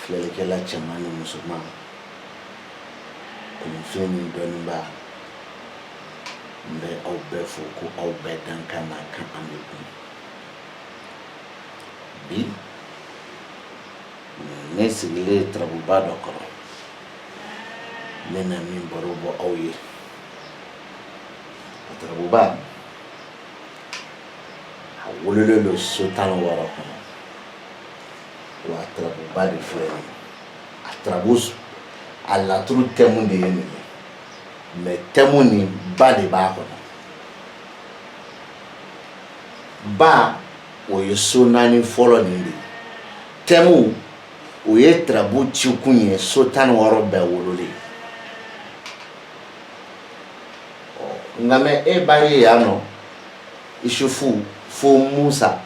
filɛlikɛla cɛman ni musoman kunfin ni dɔnniba n bɛ aw bɛɛ fo ko aw bɛɛ dankan n'a kan an bɛn kun bi ne sigilen ye turabuba dɔ kɔrɔ n bɛna min baro bɔ aw ye o turabuba a wololen don so tan wɔɔrɔ kɔnɔ wa turabuba de filɛ ye turabu a laturu tɛmu de ye nin ye mɛ tɛmu ni ba de b'a kɔnɔ ba o ye so naani fɔlɔ nin de ye tɛmu o ye turabu cikun ye so tan wɔɔrɔ bɛɛ wololen nka mɛ e b'a ye yan nɔ isufu fo musa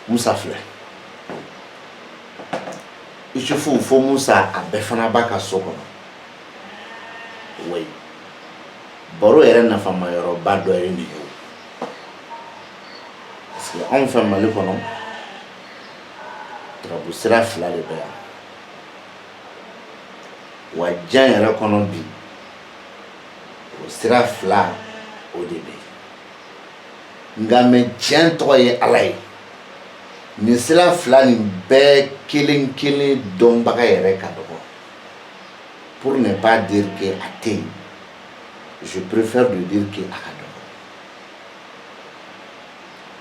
Musa filɛ Isufu fo Musa a bɛɛ fana b'a ka so kɔnɔ wayi baro yɛrɛ nafama yɔrɔba dɔ ye nin ye parce que anw fɛ Mali kɔnɔ turabu sira fila de bɛ yan wa diɲɛ yɛrɛ kɔnɔ bi o sira fila o de bɛ yen nka mɛ tiɲɛ tɔgɔ ye ala ye nin sira fila nin bɛɛ kelen kelen dɔnbaga yɛrɛ ka dɔgɔ pour ne pas dire que a tɛ yen je préfère de dire que a ka dɔgɔ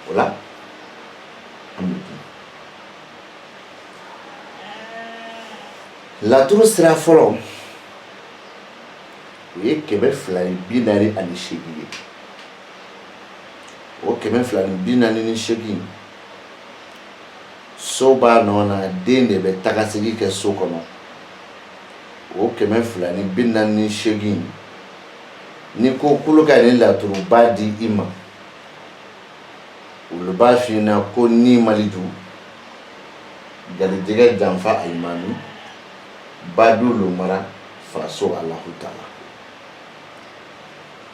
o la an bɛ kuma laturu sira fɔlɔ o ye kɛmɛ fila ni bi naani ani seegin ye o kɛmɛ fila ni bi naani ni seegin so b'a nɔ na den de bɛ taga segin kɛ so kɔnɔ o kɛmɛ fila ni bi naani ni seegin n'i ko k'olu ka nin laturuba di i ma olu b'a f'i ɲɛna ko nin maleju garijɛgɛ janfa alimami badu lomara faso alahu taala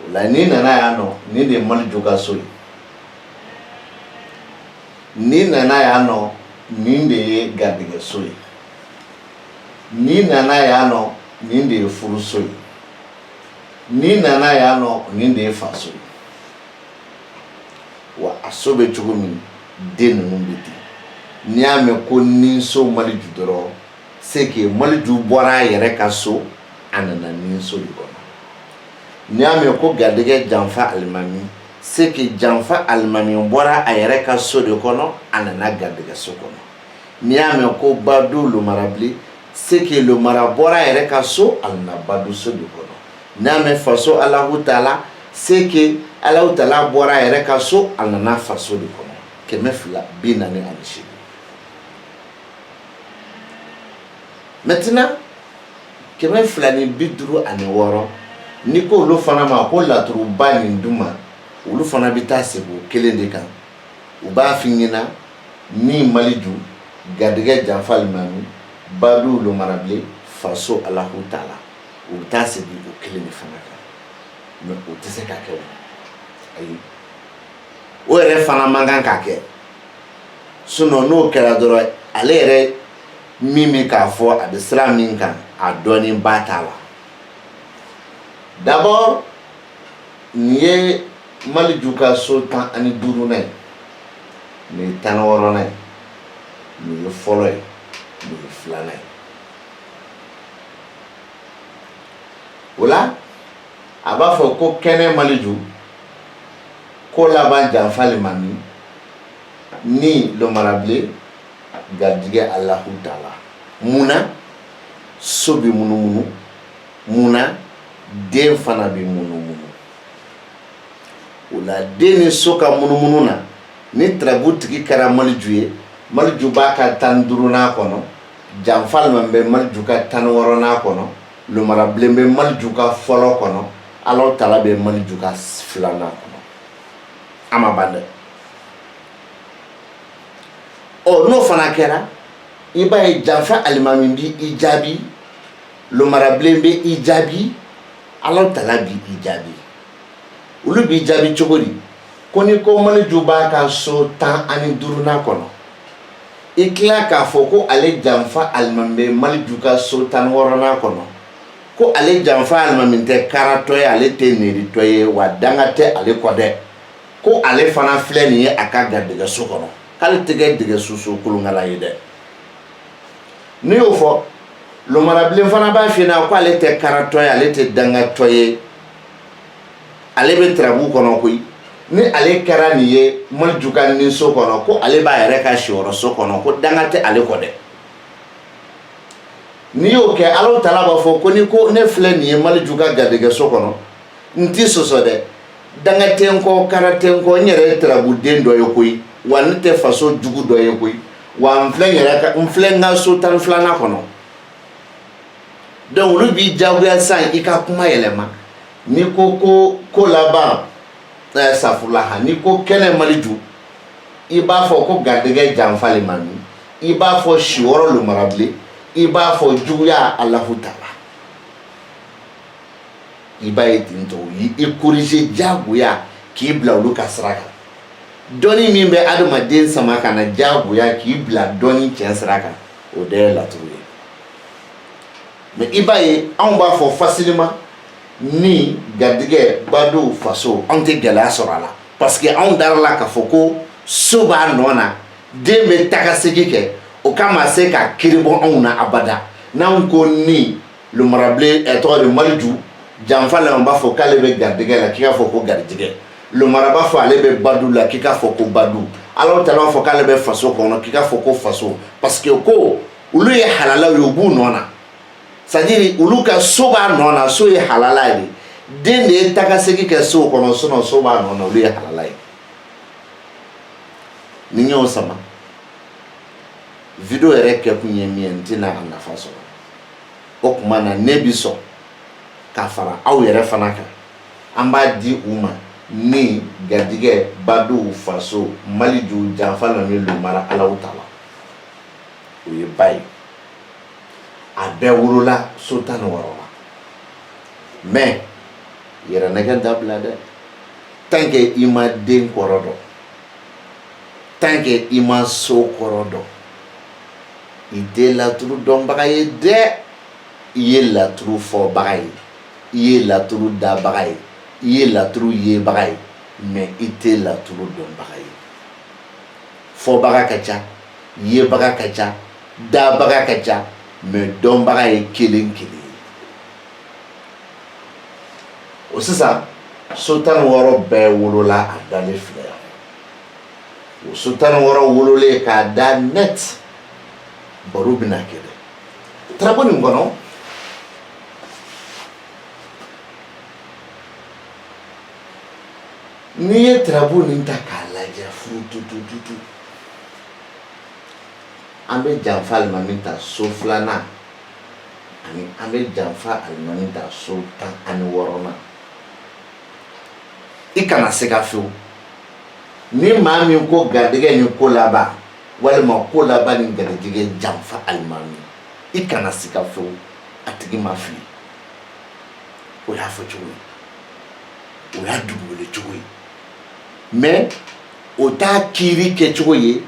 O la n'i nana yan nɔ nin de ye maleju ka so ye n'i nana yan nɔ nin de ye garijɛgɛ so ye n'i nana yan nɔ nin de ye furuso ye n'i nana yan nɔ nin de ye faso ye wa a so bɛ cogo min den ninnu bɛ ten n'i y'a mɛn ko nin so maleju dɔrɔn c'est que maleju bɔra a yɛrɛ ka so a nana nin so de kɔnɔ n'i y'a mɛn ko garijɛgɛ janfa alimami c'est que janfa alimami bɔra a yɛrɛ ka so de kɔnɔ a nana garijɛgɛ so kɔnɔ n'i y'a mɛn ko badu lomarabilen c'est que lomara bɔra a yɛrɛ ka so a nana badu so de kɔnɔ n'i y'a mɛn faso alahu taala c'est que alahu taala bɔra a yɛrɛ ka so a nana faso de kɔnɔ kɛmɛ fila bi naani ani seegin maintenant kɛmɛ fila ni bi duuru ani wɔɔrɔ n'i ko olu fana ma ko laturuba nin d'u ma olu fana bɛ taa segin o kelen de kan u b'a f'i ɲɛna min maliju garijɛgɛ janfa alimami badu lomarabilen faso alahu taala u bɛ taa segin o kelen de fana kan mais o tɛ se ka kɛ o ayi o yɛrɛ fana man kan ka kɛ sinon n'o kɛra dɔrɔn ale yɛrɛ min bɛ k'a fɔ a bɛ sira min kan a dɔnniba t'a la d'abord nin ye maliju ka so tan ani duurunan ye nin ye tan wɔɔrɔnan ye nin ye fɔlɔ ye nin ye filanan ye o la a b'a fɔ ko kɛnɛ maliju ko laban janfa alimami ni lomarabilen garijɛgɛ alahu taala mun na so bɛ munumunu mun na den fana bɛ munumunu o la den ni so ka munumunu na ni tarabu tigi kɛra maliju ye maliju b'a ka tan ni duurunan kɔnɔ janfa alimami bɛ maliju ka tan ni wɔɔrɔnan kɔnɔ lomarabilen bɛ maliju ka fɔlɔ kɔnɔ alahu taala bɛ maliju ka filanan kɔnɔ a ma ban dɛ ɔ n'o fana kɛra i b'a ye janfa alimami bi i jaabi lomarabilen bɛ i jaabi ala taala bi i jaabi olu b'i jaabi cogo di ko ni ko maliju b'a ka so tan ani duurunan kɔnɔ i tila k'a fɔ ko ale janfa alimami bɛ maliju ka so tan wɔɔrɔnan kɔnɔ ko ale janfa alimami tɛ karatɔ ye ale tɛ nɛritɔ ye wa danga tɛ ale kɔ dɛ ko ale fana filɛ nin ye a ka garijɛgɛso kɔnɔ k'ale tɛ kɛ dɛgɛsusu kolonkala ye dɛ n'i y'o fɔ lomarabilen fana b'a f'i ɲɛna ko ale tɛ karatɔ ye ale tɛ dangatɔ ye ale bɛ tarabu kɔnɔ koyi ni ale kɛra nin ye maliju ka ninso kɔnɔ ko ale b'a yɛrɛ ka siyɔrɔso kɔnɔ ko danga tɛ ale kɔ dɛ n'i y'o kɛ ala taala b'a fɔ ko ni ko ne filɛ nin ye maliju ka garijɛgɛso kɔnɔ n tɛ sɔsɔ dɛ danga tɛ n kɔ kara tɛ n kɔ n yɛrɛ tarabuden dɔ ye koyi wa ne tɛ faso jugu dɔ ye koyi wa n filɛ yɛrɛ n filɛ n ka so tan filanan kɔnɔ donc olu b'i jagoya san i ka kuma yɛlɛma n'i ko ko ko laban eh, safulaha n'i ko kɛnɛ Maliju i b'a fɔ ko garijɛgɛ janfa alimami i b'a fɔ si wɔɔrɔ Lumarabilen i b'a fɔ juguya alahu taala i b'a ye ten tɔ u y'i corriger diyagoya k'i bila olu ka sira kan dɔnni min bɛ adamaden sama ka na diyagoya k'i bila dɔnni tiɲɛ sira kan o de ye laturu ye mais i b'a ye anw b'a fɔ fasilima ni garijɛgɛ badenw faso anw tɛ gɛlɛya sɔrɔ a la parce que anw dara a la k'a fɔ ko so b'a nɔ na den bɛ tagasegi kɛ o kama a se ka kiribɔ anw na abada n'anw ko ni Lumarabilen ɛ tɔgɔ de Maliju janfa la u b'a fɔ k'ale bɛ garijɛgɛ la k'i k'a fɔ ko garijɛgɛ lumara b'a fɔ ale bɛ badenw la k'i k'a fɔ ko badenw Alahu taala b'a fɔ k'ale bɛ faso kɔnɔ k'i k'a fɔ ko faso parce que ko olu ye halalaw ye u b'u nɔ na c'est à dire olu ka so b'a nɔ na so ye halala ye den de ye tagasegi kɛ so kɔnɔ sinon so b'a nɔ na olu ye halala ye n'i y'o sama video yɛrɛ kɛkun ye min ye n tɛna a nafa sɔrɔ o tuma na ne bi sɔn ka fara aw yɛrɛ fana kan an b'a di u ma ni garijɛgɛ badenw faso Maliju janfa alimami lumara alahu taala o ye ba ye a bɛɛ wolola so tan ni wɔɔrɔ la mais yɛrɛnɛgɛn dabila dɛ tant que i ma den kɔrɔ dɔn tant que i ma so kɔrɔ dɔn i tɛ laturu dɔnbaga ye dɛ i ye laturu fɔbaga ye i ye laturu dabaga ye i ye laturu yebaga ye mais i tɛ laturu dɔnbaga ye fɔbaga ka ca yebaga ka ca dabaga ka ca mais dɔnbaga ye kelen kelen ye o sisan so tan wɔɔrɔ bɛɛ wolola a dalen filɛ o so tan ni wɔɔrɔ wololen k'a da net baro bɛna kɛ dɛ tarabu nin kɔnɔ n'i ye tarabu nin ta k'a lajɛ furututututu an bɛ janfa alimami ta so filanan ani an bɛ janfa alimami ta so tan ani wɔɔrɔnan i kana se ka fewu ni maa min ko garijɛgɛ ni ko laban walima ko laban ni garijɛgɛ janfa alimami i kana siga fewu a tigi ma fili o y'a fɔ cogo ye o y'a dugukolo cogo ye mɛ o t'a kiiri kɛcogo ye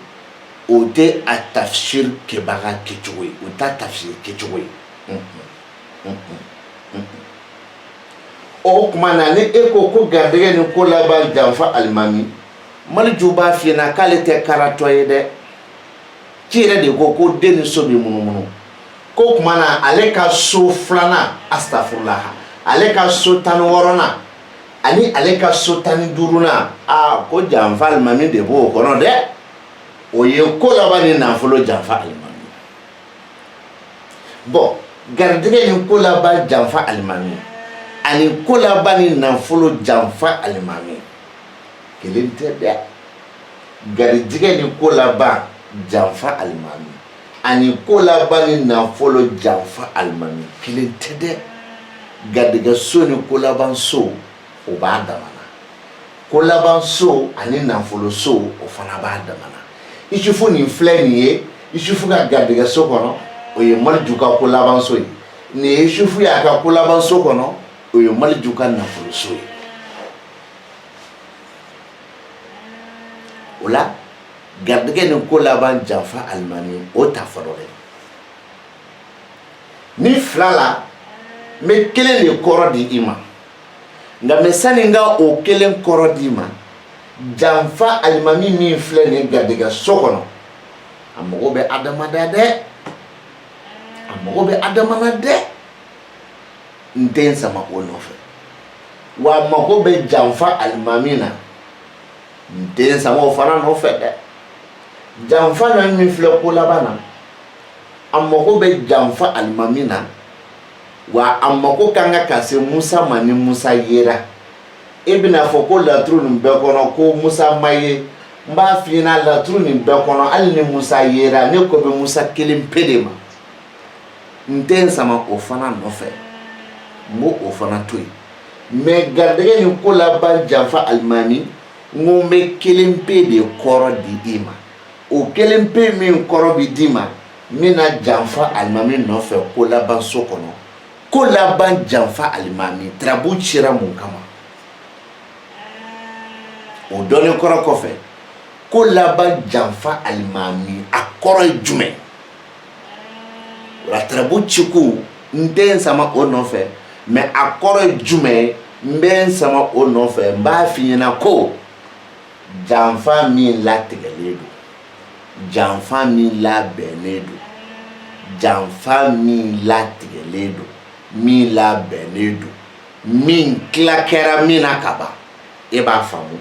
o tɛ a tafsir kɛbaga kɛcogo ye o t'a tafsir kɛcogo ye o tuma na ni e ko ko garijɛgɛ ni ko laban janfa alimami maliju b'a f'i ɲɛna k'ale tɛ karatɔ ye dɛ k'i yɛrɛ de ko ko den ni so bɛ munumunu k'o tuma na ale ka so filanan asitafurulaha ale ka so tan ni wɔɔrɔnan ani ale ka so tan ni duurunan aa ko janfa alimami de b'o kɔnɔ dɛ o ye ko laban ni nafolo janfa alimami bɔn garijɛgɛ ni ko laban janfa alimami ani ko laban ni nafolo janfa alimami kelen tɛ dɛ garijɛgɛ ni ko laban janfa alimami ani ko laban ni nafolo janfa alimami kelen tɛ dɛ garijɛgɛ so ni ko laban so o b'a dama na ko laban so ani nafolo so o fana b'a dama na isufu nin filɛ nin ye isufu ka garijɛgɛ so kɔnɔ o ye maliju ka ko laban so ye nin ye isufu y'a ka ko laban so kɔnɔ o ye maliju ka nafolo so ye o la garijɛgɛ ni ko laban janfa alimami o ta fɔlɔ dɛ nin fila la n bɛ kelen de kɔrɔ di i ma nka mɛ sani n ka o kelen kɔrɔ d'i ma janfa alimami min filɛ nin garijɛgɛ so kɔnɔ a mago bɛ adama na dɛ a mago bɛ adama na dɛ n tɛ n sama o nɔfɛ wa a mago bɛ janfa alimami na n tɛ n sama o fana nɔfɛ dɛ janfa alimami min filɛ ko laban na a mago bɛ janfa alimami na wa a mako ka kan ka ka se Musa ma ni Musa yera i bɛn'a fɔ ko laturu nin bɛɛ kɔnɔ ko Musa ma ye n b'a f'i ɲɛna laturu nin bɛɛ kɔnɔ hali ni Musa yera ne ko bɛ Musa kelen pe de ma n tɛ n sama o fana nɔfɛ n b'o o fana to yen mɛ garijɛgɛ ni ko laban janfa alimami n ko n bɛ kelen pe de kɔrɔ di i ma o kelen pe min kɔrɔ bɛ d'i ma min na janfa alimami nɔfɛ ko laban so kɔnɔ ko laban janfa alimami tirabu cira mun kama o dɔnni kɔrɔ kɔfɛ ko laban janfa alimami a kɔrɔ ye jumɛn o la tirabu cikun n tɛ n sama o nɔfɛ mɛ a kɔrɔ ye jumɛn ye n bɛ n sama o nɔfɛ n b'a f'i ɲɛna ko Janfa min latigɛlen don janfa min labɛnnen don janfa min latigɛlen don min labɛnnen don min tila kɛra min na ka ban i b'a faamu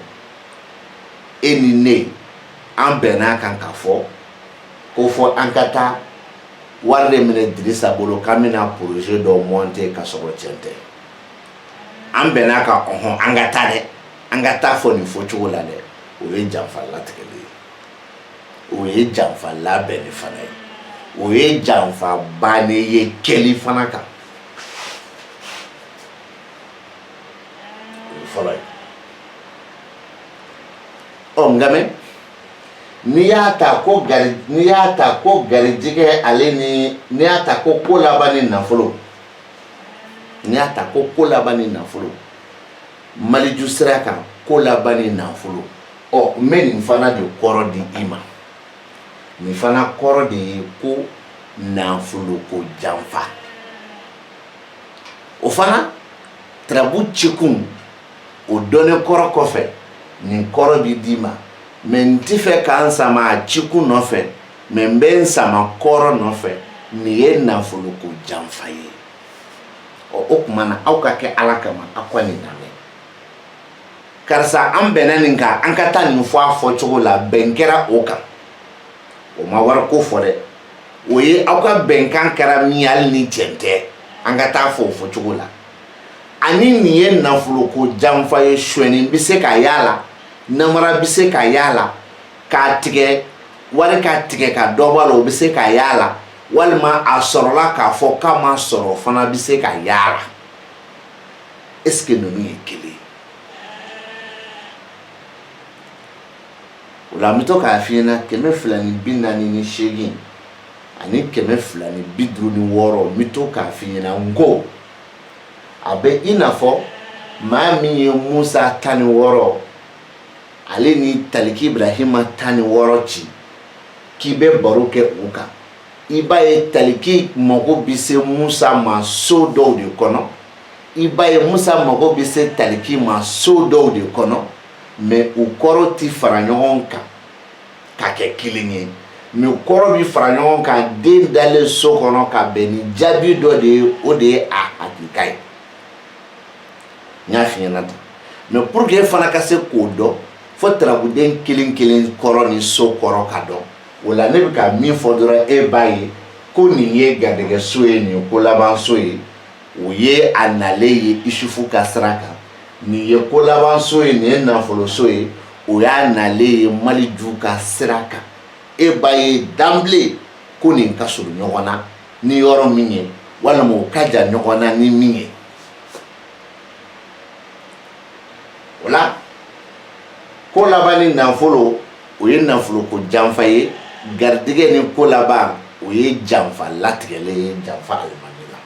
e ni ne an bɛnna a kan k'a fɔ ko fɔ an ka taa wari de minɛ dirisa bolo k'an bɛna projet dɔ monter ka sɔrɔ cɛn tɛ an bɛnna a kan ɔhɔn an ka taa dɛ an ka taa fɔ nin fɔ cogo la dɛ o ye janfa latigɛli ye o ye janfa labɛnni fana ye o ye janfa bannen ye kɛli fana kan o ye fɔlɔ ye ɔ nka mɛ n'i y'a ta ko gari n'i y'a ta ko garijigɛ ale ni n'i y'a ta ko ko laban ni nafolo n'i y'a ta ko ko laban ni nafolo maliju sira kan ko laban ni nafolo ɔ n bɛ nin fana de kɔrɔ di i ma nin fana kɔrɔ de ye ko nafolo ko janfa o fana turabu cikun o dɔnnen kɔrɔ kɔfɛ nin kɔrɔ bi d'i ma mɛ n ti fɛ ka n sama a cikun nɔfɛ mɛ n bɛ n sama kɔrɔ nɔfɛ nin ye nafolo ko janfa ye ɔ o tuma na aw k'a kɛ ala kama aw ka nin lamɛn karisa an bɛnna nin kan an ka taa nin fɔ a fɔ cogo la bɛn kɛra o kan o ma wari ko fɔ dɛ o ye aw ka bɛnkan kɛra min ye hali ni cɛn tɛ an ka taa fɔ o fɔ cogo la ani nin ye nafolo ko janfa ye suɲɛni bɛ se ka y'a la namara bɛ se ka y'a la k'a tigɛ wari k'a tigɛ ka dɔ bɔ a la o bɛ se ka y'a la walima a sɔrɔla k'a fɔ k'a ma sɔrɔ fana bɛ se ka y'a la est ce que ninnu ye kelen o la n bɛ to k'a f'i ɲɛna kɛmɛ fila ni bi naani ni seegin ani kɛmɛ fila ni bi duuru ni wɔɔrɔ n bɛ to k'a f'i ɲɛna n ko a bɛ i n'a fɔ maa min ye musa tan ni wɔɔrɔ ale ni taliki ibrahima tan ni wɔɔrɔ ci k'i bɛ baro kɛ u kan i b'a ye taliki mago bɛ se musa ma so dɔw de kɔnɔ i b'a ye musa mago bɛ se taliki ma so dɔw de kɔnɔ mɛ u kɔrɔ tɛ fara ɲɔgɔn kan ka kɛ kelen ye mɛ u kɔrɔ bɛ fara ɲɔgɔn kan den dalen so kɔnɔ ka bɛn ni jaabi dɔ de ye o de ye a hakika ye n y'a f'i ɲɛna tan mɛ pour que e fana ka se k'o dɔn fo tarabuden kelen kelen kɔrɔ ni so kɔrɔ ka dɔn o la ne bɛ ka min fɔ dɔrɔn e b'a ye ko nin ye garijɛgɛ so ye nin ye ko laban so ye o ye a nalen ye isufu ka sira kan nin ye ko laban so ye nin ye nafolo so ye o y'a nalen ye maliju ka sira kan e b'a ye d'emblée ko nin ka surun ɲɔgɔn na ni yɔrɔ min ye walima o ka jan ɲɔgɔn na ni min ye O la ko laban ni nafolo o ye nafolo ko janfa ye garijɛgɛ ni ko laban o ye janfa latigɛlen ye janfa alimami la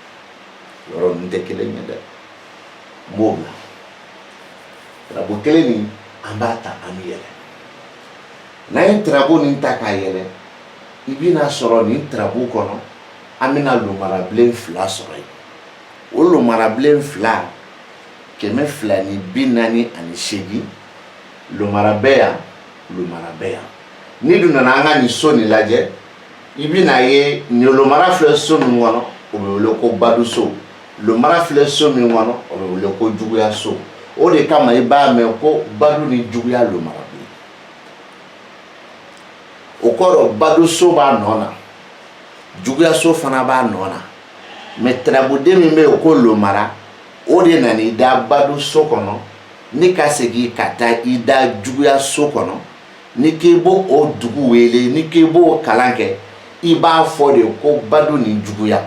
yɔrɔ ninnu tɛ kelen ye dɛ n b'o bila tarabu kelen nin an b'a ta an b'a yɛlɛ n'an ye tarabu nin ta k'a yɛlɛ i bɛna sɔrɔ nin tarabu kɔnɔ an bɛna lomarabilen fila sɔrɔ yen o lomarabilen fila kɛmɛ fila ni bi naani ani seegin lomara bɛ yan lomara bɛ yan n'i dun nana an ka nin so nin lajɛ i bɛna ye nin lomara filɛ so min kɔnɔ o bɛ wele ko badu so lomara filɛ so min kɔnɔ o bɛ wele ko juguya so o de kama i b'a mɛn ko badu ni juguya lomarabilen o kɔrɔ badu so b'a nɔ na juguya so fana b'a nɔ na mɛ tarabuden min bɛ yen o ko lomara o de nana i da badu so kɔnɔ ni ka segin ka taa i da juguya so kɔnɔ n'i k'i b'o dugu wele n'i k'i b'o kalan kɛ i b'a fɔ de ko badu ni juguya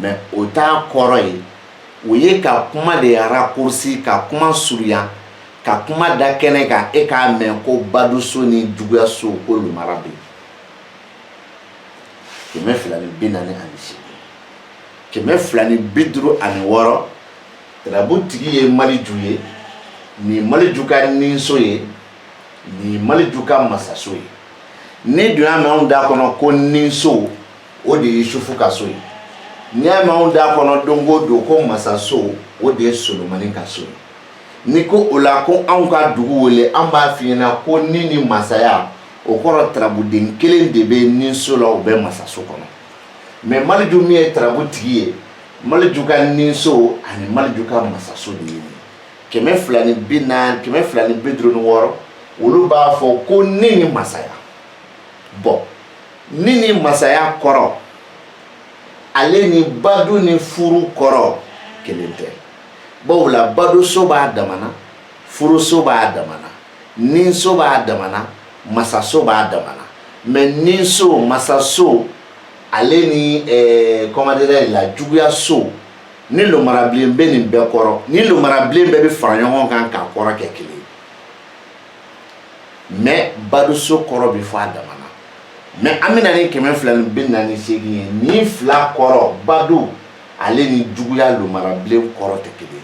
mɛ o t'a kɔrɔ ye o ye ka kuma de raccourci ka kuma surunya ka kuma da kɛnɛ kan e k'a mɛn ko baduso ni juguyaso ko lomara bɛ yen kɛmɛ fila ni bi naani ani seegin kɛmɛ fila ni bi duuru ani wɔɔrɔ tarabu tigi ye maliju ye nin maliju ka ninso ye nin maliju ka masaso ye n'i dun y'a mɛn anw da kɔnɔ ko ninso o de ye sufu ka so ye n'i y'a mɛn anw da kɔnɔ don o don ko masaso o de ye solomani ka so ye n'i ko o la ko anw ka dugu wele an b'a f'i ɲɛna ko ni ni masaya o kɔrɔ tarabuden kelen de bɛ ninso la o bɛ masaso kɔnɔ mɛ maliju min ye tarabu tigi ye maliju ka ninso ani maliju ka masaso de ye kɛmɛ fila ni bi naani kɛmɛ fila ni bi duuru ni wɔɔrɔ olu b'a fɔ ko ni ni masaya bɔn ni ni masaya kɔrɔ ale ni badu ni furu kɔrɔ kelen tɛ bawo la baduso b'a damana furuso b'a damana ninso b'a damana masaso b'a damana mɛ ninso masaso ale ni eh, comment dirais la juguyaso ni lomarabilen bɛ nin bɛɛ kɔrɔ nin lomarabilen bɛɛ bɛ fara ɲɔgɔn kan k'a kɔrɔ kɛ kelen mɛ baduso kɔrɔ bɛ fɔ a dama na mɛ an bɛna ni kɛmɛ fila ni bi naani seegin ye nin fila kɔrɔ badu ale ni juguya lomarabilen kɔrɔ tɛ kelen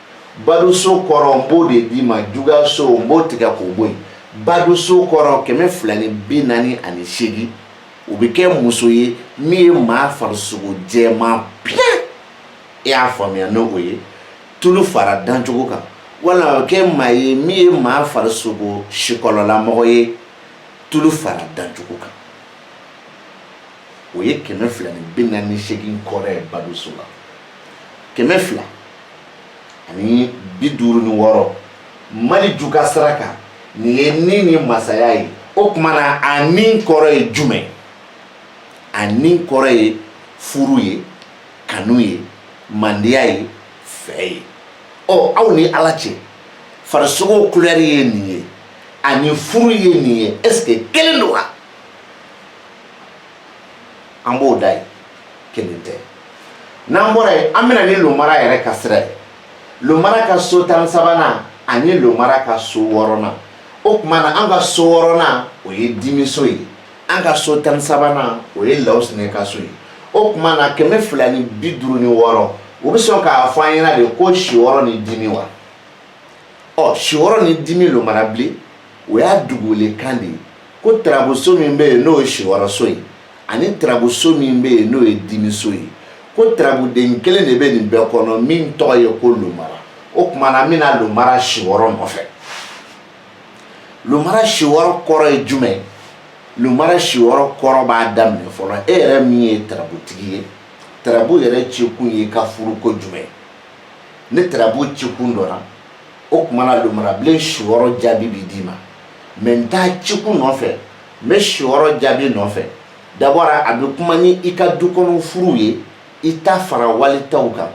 baduso kɔrɔ n b'o de d'i ma juguyaso n b'o tigɛ k'o bɔ yen baduso kɔrɔ kɛmɛ fila ni bi naani ani seegin o bɛ kɛ muso ye min ye maa farisogo jɛman piyɛ e y'a faamuya ni o ye tulu fara dancogo kan walima a bɛ kɛ maa ye min ye maa farisogo sikɔlɔlamɔgɔ ye tulu fara dancogo kan o ye kɛmɛ fila ni bi naani ni seegin kɔrɔ ye baduso la kɛmɛ fila ani bi duuru ni wɔɔrɔ maliju ka sira kan nin ye ni ni masaya ye o tuma na a ni kɔrɔ ye jumɛn a ni kɔrɔ ye furu ye kanu ye mandiya ye fɛ ye ɔ aw ni ala cɛ farisogo kulɛri ye nin ye ani furu ye nin ye est ce que kelen don wa an b'o da yen kelen tɛ n'an bɔra yen an bɛna ni lomara yɛrɛ ka sira ye lomara ka so tan sabanan ani lomara ka so wɔɔrɔnan o tuma na an ka so wɔɔrɔnan o ye dimiso ye an ka so tan sabanan o ye lawusinɛ ka so ye o tuma na kɛmɛ fila ni bi duuru ni wɔɔrɔ o bɛ sɔn k'a fɔ an ɲɛ na de ko siwɔrɔ ni dimi wa ɔ siwɔrɔ ni dimi lomarabilen o y'a dugulekan de ye ko tarabuso min bɛ yen n'o ye siwɔrɔso ye ani tarabuso min bɛ yen n'o ye dimiso ye ko tarabuden kelen de bɛ nin bɛɛ kɔnɔ min tɔgɔ ye ko lomara o tuma na an bɛna lomara siwɔrɔ nɔfɛ lomara siwɔrɔ kɔrɔ ye jumɛn ye lomara siwɔrɔ kɔrɔ b'a daminɛ fɔlɔ e yɛrɛ min ye tarabutigi ye tarabu yɛrɛ cikun ye ka furuko jumɛn ni tarabu cikun dɔnna o tuma na lomarabilen siwɔrɔ jaabi bi d'i ma mɛ n t'a cikun nɔfɛ n bɛ siwɔrɔ jaabi nɔfɛ d'abord a bɛ kuma ni i ka du kɔnɔ furuw ye i ta fara wali taw kan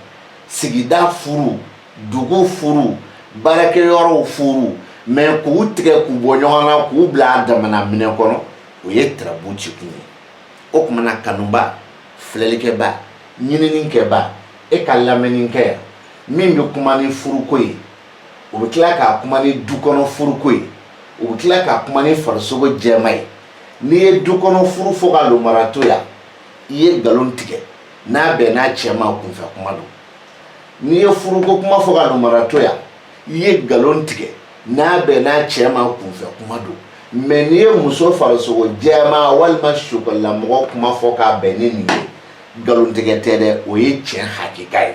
sigida furuw dugu furuw baarakɛyɔrɔw furuw mɛ k'u tigɛ k'u bɔ ɲɔgɔn na k'u bila a damana minɛn kɔnɔ o ye tirabu cikun ye o tuma na kanuba filɛlikɛba ɲininikɛba e ka lamɛnni kɛ yan min bɛ kuma ni furuko ye u bɛ tila k'a kuma ni du kɔnɔ furuko ye u bɛ tila k'a kuma ni farisogo jɛma ye n'i ye du kɔnɔ furu fɔ ka lomara to yan i ye nkalon tigɛ n'a bɛnna cɛ ma kunfɛ kuma don n'i ye furuko kuma fɔ ka lomara to yan i ye nkalon tigɛ n'a bɛnna cɛ ma kunfɛ kuma don mɛ n'i ye muso farisogo jɛma walima sokɔlamɔgɔ kuma fɔ k'a bɛn ni nin ye nkalontigɛ tɛ dɛ o ye tiɲɛ hakika ye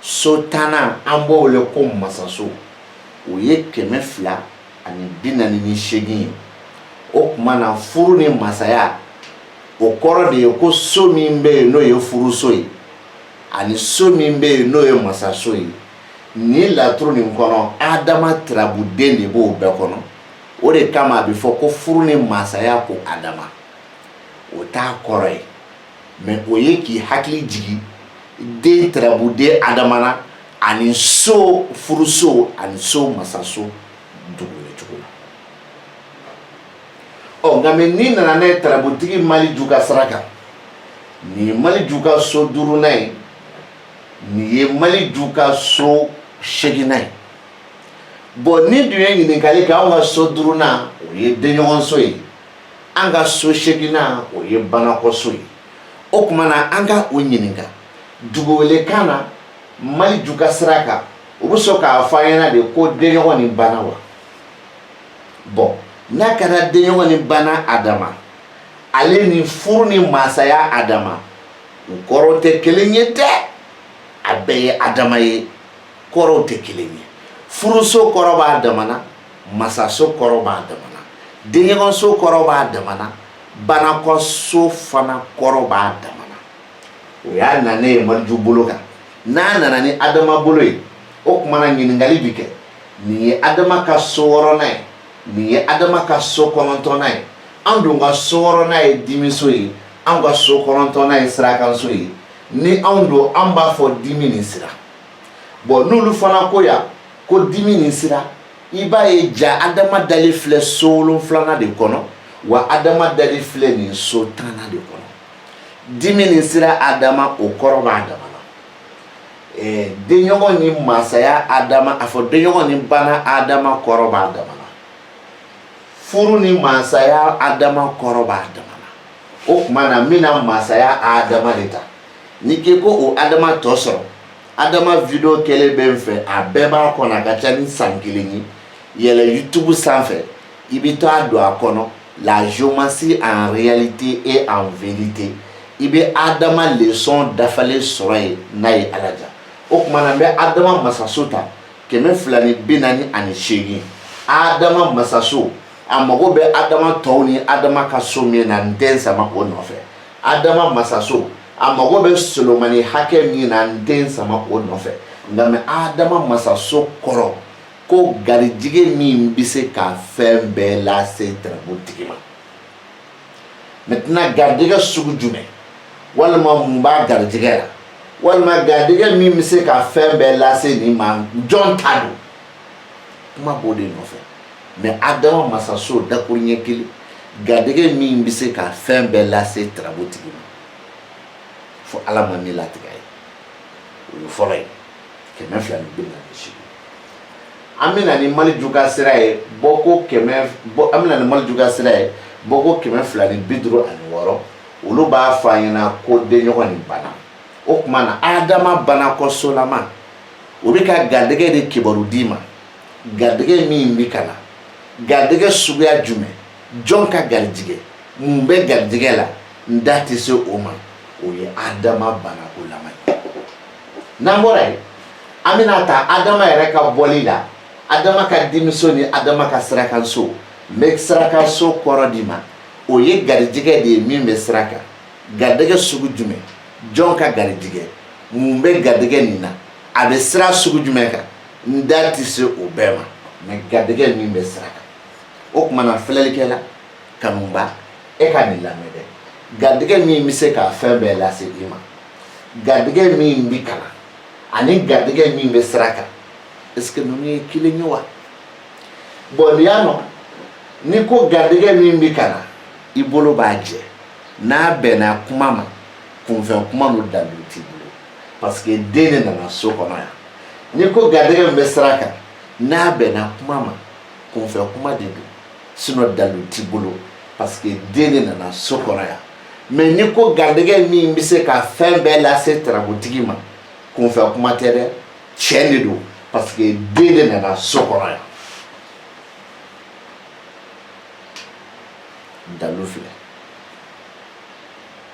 so tannan an b'o wele ko masaso o ye kɛmɛ fila ani bi naani ni seegin ye o tuma na furu ni masaya o kɔrɔ de ye ko so min bɛ yen n'o ye furuso ye ani so min bɛ yen n'o ye masaso ye nin laturu nin kɔnɔ adama tirabuden de b'o bɛɛ kɔnɔ o de kama a bɛ fɔ ko furu ni masaya ko adama o t'a kɔrɔ ye mɛ o ye k'i hakili jigin den tarabuden adama na ani so furuso ani so masaso dugucogo la ɔ nka mɛ n'i nana ne tarabutigi maliju ka sira kan nin ye maliju ka so duurunan ye nin ye maliju ka so seeginnan ye bɔn n'i dun ye ɲininkali kɛ anw ka so duurunan o ye denɲɔgɔnso ye an ka so seeginnan o ye banakɔso ye o tuma na an ka u ɲininka duguwelekan na maliju ka sira kan u bɛ sɔn k'a fɔ an ɲɛna de ko denɲɔgɔn ni bana wa bɔn n'a kɛra denɲɔgɔn ni bana adama ale ni furu ni masaya adama u kɔrɔw tɛ kelen ye dɛ a bɛɛ ye adama ye kɔrɔw tɛ kelen ye furuso kɔrɔ b'a dama na masaso kɔrɔ b'a dama na denɲɔgɔnso kɔrɔ b'a dama na banakɔso fana kɔrɔ b'a dama na o y'a nanen ye maliju bolo kan n'a nana ni adama bolo ye o kuma na ɲininkali bi kɛ nin ye adama ka so wɔrɔnan ye nin ye adama ka so kɔnɔntɔnnan ye an dun ka so wɔrɔnan ye dimiso ye anw ka so kɔnɔntɔnnan ye sirakanso ye ni anw don an b'a fɔ dimi ni sira bɔn n'olu fana ko yan ko dimi ni sira i b'a ye jaa adama dali filɛ so wolonfilanan de kɔnɔ wa adama dali filɛ nin so tannan de kɔnɔ dimi ni sira adama o kɔrɔ b'a dama na eh, denɲɔgɔn ni masaya adama a fɔ denɲɔgɔn ni bana adama kɔrɔ b'a dama na furu ni masaya adama kɔrɔ b'a dama na o tuma na n bɛna masaya adama de ta n'i k'i ko o adama tɔ sɔrɔ adama video kɛlen bɛ n fɛ a bɛɛ b'a kɔnɔ a ka ca ni san kelen ye yɛlɛ youtube sanfɛ i bɛ t'a don a kɔnɔ la géomancie en réalité et en vérité i bɛ adama leçon dafalen sɔrɔ yen n'a ye ala diya o tuma na n bɛ adama masaso ta kɛmɛ fila ni bi naani ani seegin adama masaso a mago bɛ adama tɔw ni adama ka so min na n tɛ n sama o nɔfɛ adama masaso a mago bɛ solomani hakɛ min na n tɛ n sama o nɔfɛ nka mais adama masaso kɔrɔ ko garijɛgɛ min bɛ se ka fɛn bɛɛ lase tarabu tigi ma maintenant garijɛgɛ sugu jumɛn walima mun b'a garijɛgɛ la walima garijɛgɛ min bɛ se ka fɛn bɛɛ lase nin ma jɔn ta don kuma b'o de nɔfɛ mais adama masaso dakuru ɲɛ kelen garijɛgɛ min bɛ se ka fɛn bɛɛ lase tarabu tigi ma fo ala ma ni latigɛ ye o ye fɔlɔ ye kɛmɛ fila ni bi naani seegin an bɛna ni maliju ka sira ye bɔko kɛmɛ bɔ an bɛna ni maliju ka sira ye bɔko kɛmɛ fila ni bi duuru ani wɔɔrɔ olu b'a fɔ an ɲɛna ko denɲɔgɔn nin bana o tuma na adama banakɔsolama o bɛ ka garijɛgɛ de kibaru d'i ma garijɛgɛ min bɛ ka na garijɛgɛ suguya jumɛn jɔn ka garijɛgɛ mun bɛ garijɛgɛ la n da tɛ se o ma o ye adama banakɔlama ye n'an bɔra yen an bɛna ta adama yɛrɛ ka bɔli la adama ka dimiso ni adama ka sirakanso n bɛ sirakanso kɔrɔ d'i ma o ye garijɛgɛ de ye min bɛ sira kan garijɛgɛ sugu jumɛn jɔn ka garijɛgɛ mun bɛ garijɛgɛ nin na a bɛ sira sugu jumɛn kan n da tɛ se o bɛɛ ma mais garijɛgɛ min bɛ sira kan o tuma na filɛlikɛla kanuba e ka nin lamɛn dɛ garijɛgɛ min bɛ se ka fɛn bɛɛ lase i ma garijɛgɛ min bɛ ka na ani garijɛgɛ min bɛ sira kan est-ce que ninnu ye kelen ye wa bon n'i y'a nɔ ni ko garijɛgɛ min bɛ ka na i bolo b'a jɛ n'a bɛnna kuma ma kunfɛ kuma don dalu t'i bolo parce que den de nana so kɔnɔ yan ni ko garijɛgɛ min bɛ sira kan n'a bɛnna kuma ma kunfɛ kuma de don sinon dalu t'i bolo parce que den de nana so kɔnɔ yan mais ni ko garijɛgɛ min bɛ se ka fɛn bɛɛ lase tarabutigi ma kunfɛ kuma tɛ dɛ tiɲɛ de don parce que den de nana so kɔnɔ yan dalu filɛ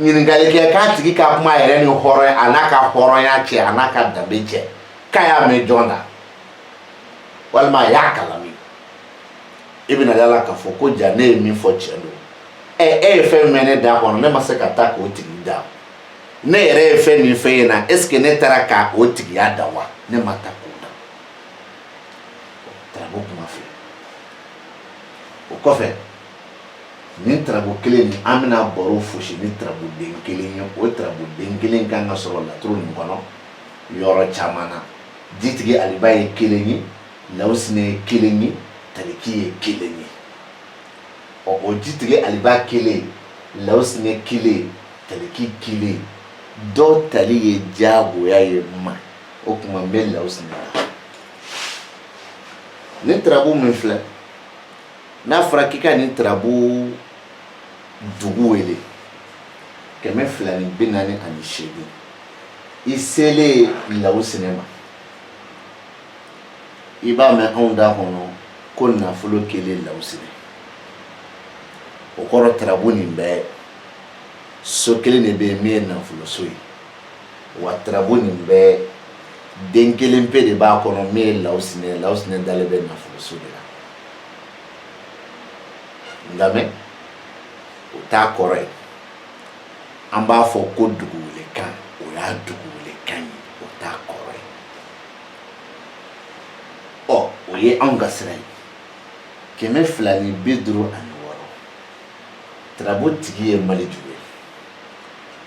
ɲininkali kɛ k'a tigi ka kuma yɛrɛ ni hɔrɔn a n'a ka hɔrɔnya cɛ a n'a ka danbe cɛ k'a y'a mɛn jɔn da walima a y'a kalan min i bɛna da a la k'a fɔ ko ja ne ye min fɔ tiɲɛ don ɛ e ye fɛn min mɛn ne da kɔnɔ ne ma se ka taa k'o tigi da ne yɛrɛ ye fɛn min fɔ e ye na eseke ne taara ka o tigiya da wa ne ma taa k'o da taara ko kuma filɛ o kɔfɛ nin tarabu kelen nin an bɛna baro fosi ni tarabu den kelen ye o tarabu den kelen kan ka sɔrɔ laturu nin kɔnɔ yɔrɔ caman na jitigi aliba ye kelen ye law sinɛ kelen ye taliki ye kelen ye ɔ o jitigi aliba kelen law sinɛ kelen taliki kelen dɔw tali ye diyagoya ye ma o tuma bɛ lasi la ne tarabu nin filɛ n'a fɔra k'i ka nin tarabu dugu wele kɛmɛ fila ni bi naani ani seegin i selen law sinɛ ma i b'a mɛn anw da kɔnɔ ko nafolo kelen law sinɛ o kɔrɔ tarabu nin bɛɛ so kelen de bɛ yen min ye nafolo so ye wa tarabu nin bɛɛ den kelen pe de b'a kɔnɔ min ye law sinɛ law sinɛ dalen bɛ nafolo so de la nka mɛn o t'a kɔrɔ ye an b'a fɔ ko dugu wele kan o y'a dugu wele kan ye o t'a kɔrɔ ye ɔ o ye anw ka sira ye kɛmɛ fila ni bi duuru ani wɔɔrɔ tarabu tigi ye maleju ye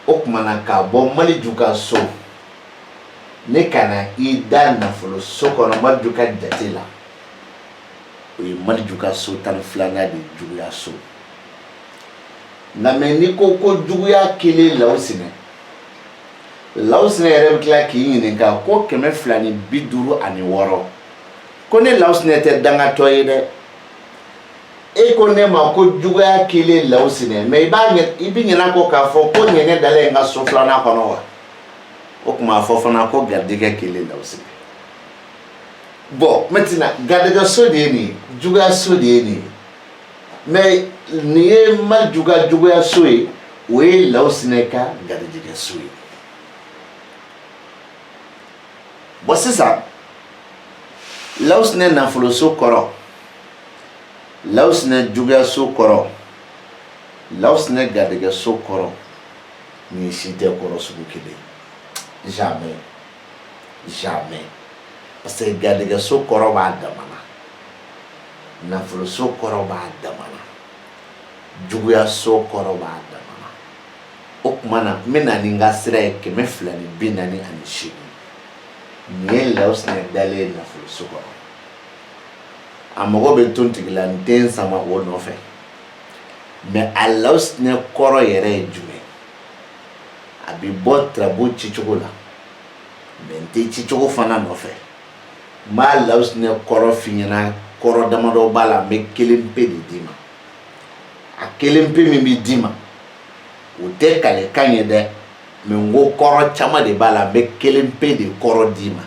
o tuma na k'a bɔ maleju ka so ne ka na i da nafolo so kɔnɔ maleju ka jate la o ye maleju ka so tan ni filanan de juguya so nka mɛn n'i ko ko juguya kelen law sinɛ law sinɛ yɛrɛ bɛ tila k'i ɲininka ko kɛmɛ fila ni bi duuru ani wɔɔrɔ ko ne law sinɛ tɛ dangatɔ ye dɛ e ko ne ma ko juguya kelen law sinɛ mɛ i b'a i bɛ ɲinɛ kɔ k'a fɔ ko ne de dalen ye i ka so filanan kɔnɔ wa o tuma a fɔ fana ko garijɛgɛ kelen law sinɛ Bɔn n tɛna garijɛgɛso de ye nin juguyaso de ye nin mɛ nin ye maleju ka juguyaso ye o ye law sinɛ ka garijɛgɛso ye bɔn sisan law sinɛ nafoloso kɔrɔ law sinɛ juguyaso kɔrɔ law sinɛ garijɛgɛso kɔrɔ nin si tɛ kɔrɔ sugu kelen ye jamais parce que garijɛgɛso kɔrɔ b'a dama na nafoloso kɔrɔ b'a dama na juguyaso kɔrɔ b'a dama na o tuma na n bɛ na ni n ka sira ye kɛmɛ fila ni bi naani ani seegin nin ye lawusinɛ dalen ye nafoloso kɔrɔ a mago bɛ to tigila n tɛ n sama o nɔfɛ mɛ a lawusinɛ kɔrɔ yɛrɛ ye jumɛn a bɛ bɔ tarabu ci cogo la mɛ n tɛ ci cogo fana nɔfɛ n b'a lawusinɛ kɔrɔ f'i ɲɛna kɔrɔ damadɔ b'a la n bɛ kelen pe de d'i ma a kelen pe min bɛ d'i ma o tɛ kalekan ye dɛ mɛ n ko kɔrɔ caman de b'a la n bɛ kelen pe de kɔrɔ d'i ma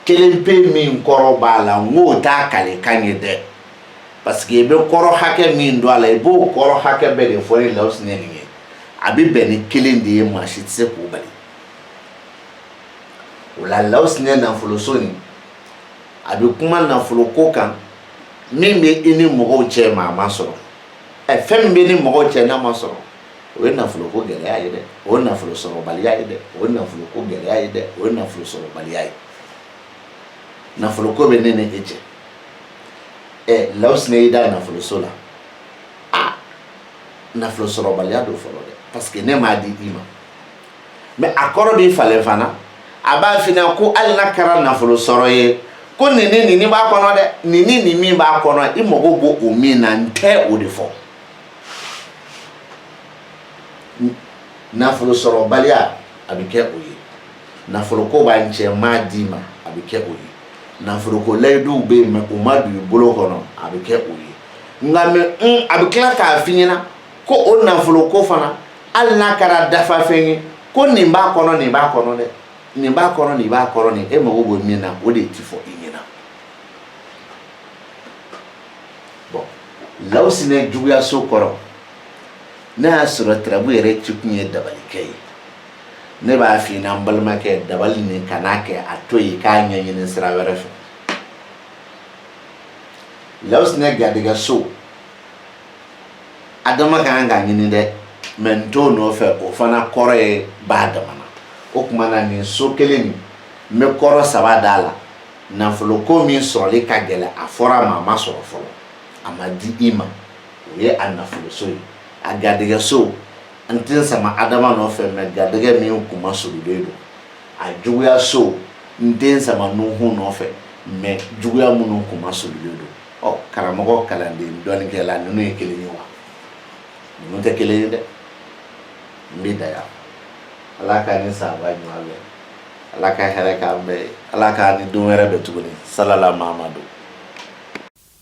kelen pe min kɔrɔ b'a la n k'o t'a kalekan ye dɛ parce que i bɛ kɔrɔ hakɛ min dɔn a la i b'o kɔrɔ hakɛ bɛɛ de fɔ ni lawusinɛ nin ye a bɛ bɛn ni kelen de ye maa si tɛ se k'o bali o la lawusinɛ nafoloso nin a bɛ kuma nafolo ko kan min bɛ i ni mɔgɔw cɛ mɛ a ma sɔrɔ ɛ fɛn min b'i ni mɔgɔw cɛ n'a ma sɔrɔ o ye nafolo ko gɛlɛya ye dɛ o ye nafolo sɔrɔbaliya ye dɛ o ye nafolo ko gɛlɛya ye dɛ o ye nafolo sɔrɔbaliya ye nafolo ko bɛ ne ni e cɛ ɛ lawusinɛ y'i da nafoloso la a nafolo sɔrɔbaliya don fɔlɔ dɛ parce que ne m'a di i ma mais a kɔrɔ b'i falen fana a b'a f'i ɲɛna ko hali n'a kɛra nafolo sɔrɔ ye ko nin ni nin b'a kɔnɔ dɛ nin ni nin min b'a kɔnɔ i mago b'o o min na n tɛ o de fɔ nafolo sɔrɔbaliya a bɛ kɛ o ye nafolo ko b'an cɛ n m'a d'i ma a bɛ kɛ o ye nafolo ko layiduw bɛ yen mɛ u ma don i bolo kɔnɔ a bɛ kɛ o ye nka mɛ a bɛ tila k'a f'i ɲɛna ko o nafolo ko fana hali n'a kɛra dafafɛn ye ko nin b'a kɔnɔ nin b'a kɔnɔ dɛ nin b'a kɔnɔ nin b'a kɔnɔ nin e mago bɛ min na o de ti fɔ i ɲɛna bon lawusinɛ juguyaso kɔrɔ n'a y'a sɔrɔ tarabu yɛrɛ ci kun ye dabalikɛ ye ne b'a f'i ɲɛna n balimakɛ dabali nin kan'a kɛ a to yen k'a ɲɛɲini sira wɛrɛ fɛ lawusinɛ garijɛgɛso a dama ka kan k'a ɲini dɛ mɛ n t'o nɔfɛ o fana kɔrɔ ye b'a dama na o tuma na nin so kelen nin n bɛ kɔrɔ saba d'a la nafolo ko min sɔrɔli ka gɛlɛn a fɔra a ma a ma sɔrɔ fɔlɔ a ma di i ma o ye a nafoloso ye a garijɛgɛso n tɛ sama adama nɔfɛ maa garijɛgɛ min kun ma surulen don a juguya so n tɛ sama nuhu nɔfɛ maa juguya minnu kun ma surulen don ɔ karamɔgɔ kalanden dɔnnikɛla ninnu ye kelen ye wa ninnu tɛ kelen ye dɛ n bɛ dan yan ala k'an ni sababu ɲuman bɛn ala ka hɛrɛ k'an bɛɛ ye ala k'an ni don wɛrɛ bɛn tuguni salala mamadu